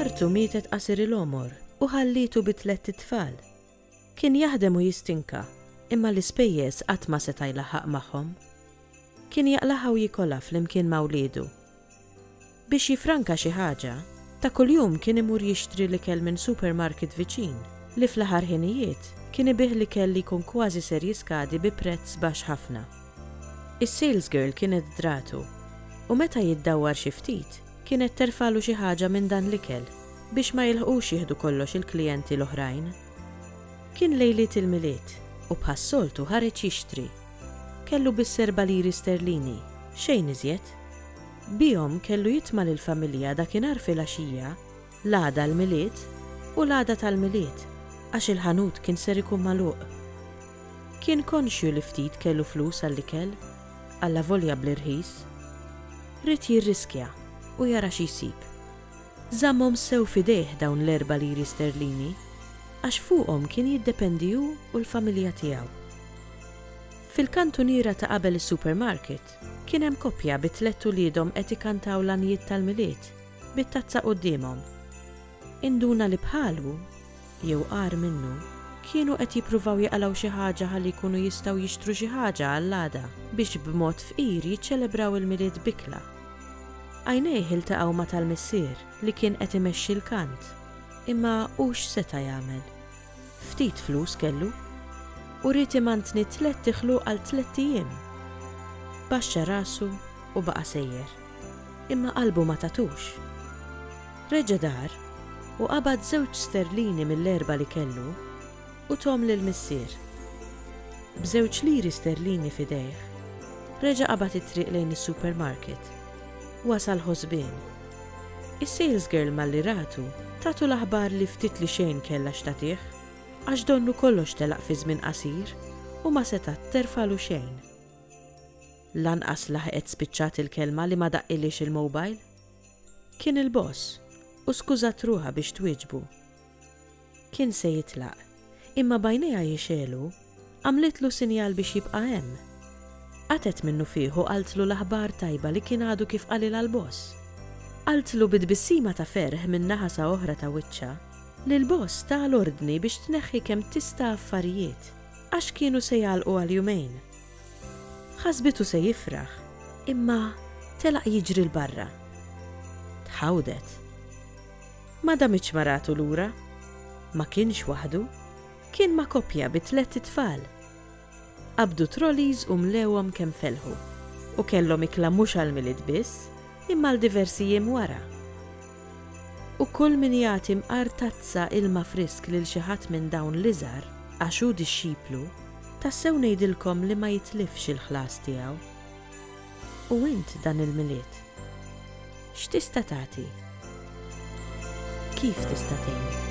Martu mietet qasir il-għomor u ħallietu bi tlett itfal. Kien jaħdem u jistinka, imma l-ispejjeż qatt ma seta' jlaħħaq magħhom. Kien jaqlagħha u jikolha flimkien ma' wliedu. Biex jiffranka xi ħaġa, ta' kuljum kien imur jixtri l-ikel minn supermarket viċin li fl-aħħar ħinijiet kien ibigħ l-ikel li jkun kważi ser jiskadi bi prezz baxx ħafna. Is-salesgirl kienet dragħtu, u meta jiddawwar xi ftit, kienet terfagħlu xi ħaġa minn dan l-ikel biex ma jilħqux jieħdu kollox il-klijenti l-oħrajn. Kien lejliet il-Milied, u bħas-soltu ħareġ jixtri. Kellu biss erba' liri sterlini, xejn iżjed. Bihom kellu jitma' lill-familja dakinhar filgħaxija L-għada l-Milied u l-għada tal-Milied għax il-ħanut kien ser ikun magħluq. Kien konxju li ftit kellu flus għall-ikel, allavolja bl-irħis. Ried jirriskja u jara xi jsib. Żammhom sew f'idejh dawn l-erba' liri sterlini għax fuqhom kien jiddependi hu u l-familja tiegħu. Fil-kantuniera ta' qabel is-supermarket kien hemm koppja bi tlett uliedhom qed ikantaw l-għanjiet tal-Milied. bit-tazza quddiemhom. Induna li bħalu, jew agħar minnu, kienu qed jippruvaw jaqalgħu xi ħaġa ħalli jkunu jistgħu jixtru xi ħaġa għall-għada biex b'mod fqir jiċċelebraw il-Milied b'ikla. Għajnejh iltaqgħu ma' tal-missier li kien qed imexxi l-kant. Imma hu x'seta' jagħmel? Ftit flus kellu u ried imantni tlett tixlu għal tlett ijiem. Baxxa rasu u baqa' sejjer, imma qalbu ma tatux. Reġa' dar u qabad żewġ sterlini mill-erbgħa li kellu u thom lill-missier. B'żewġ liri sterlini f'idejh, reġa' qabad it-triq lejn is-supermarket. Wasal ħosbien. Is-salesgirl malli ratu, tatu l-aħbar li ftit li xejn kellha x'tagħtih, għax donnu kollox telaq fi żmien qasir u ma setgħat terfagħlu xejn. Lanqas laħqet spiċċat il-kelma li ma daqqilhiex il-mobile. Kien il-boss u skużat ruħha biex twieġbu. Kien se jitlaq, imma b'għajnejha jixegħlu, għamlitlu sinjal biex jibqa' hemm. Qatgħet minnufih u qaltlu l-aħbar tajba li kien għadu kif qalilha l-boss. Qaltlu bi tbissima ta' ferħ minn naħa sa oħra ta' wiċċha li l-boss ta l-ordni biex tneħħi kemm tista' affarijiet għax kienu se jagħlqu għal jumejn. Ħasbitu se jifraħ, imma telaq jiġri 'l barra. Tħawdet. Ma damitx maratu lura. Ma kienx waħdu. Kien ma' koppja bi tlett itfal. Qabdu trolleys u mlewhom kemm felħu u kellhom ikla mhux għall-Milied biss imma għal diversi jiem wara. U kull min jagħti mqar tazza ilma frisk lil xi ħadd minn dawn l-iżgħar għax hu dixxiplu, tassew ngħidilkom li ma jitlifx il-ħlas tiegħu. U int dan il-Milied? X'tista' tagħti? Kif tista' tgħin?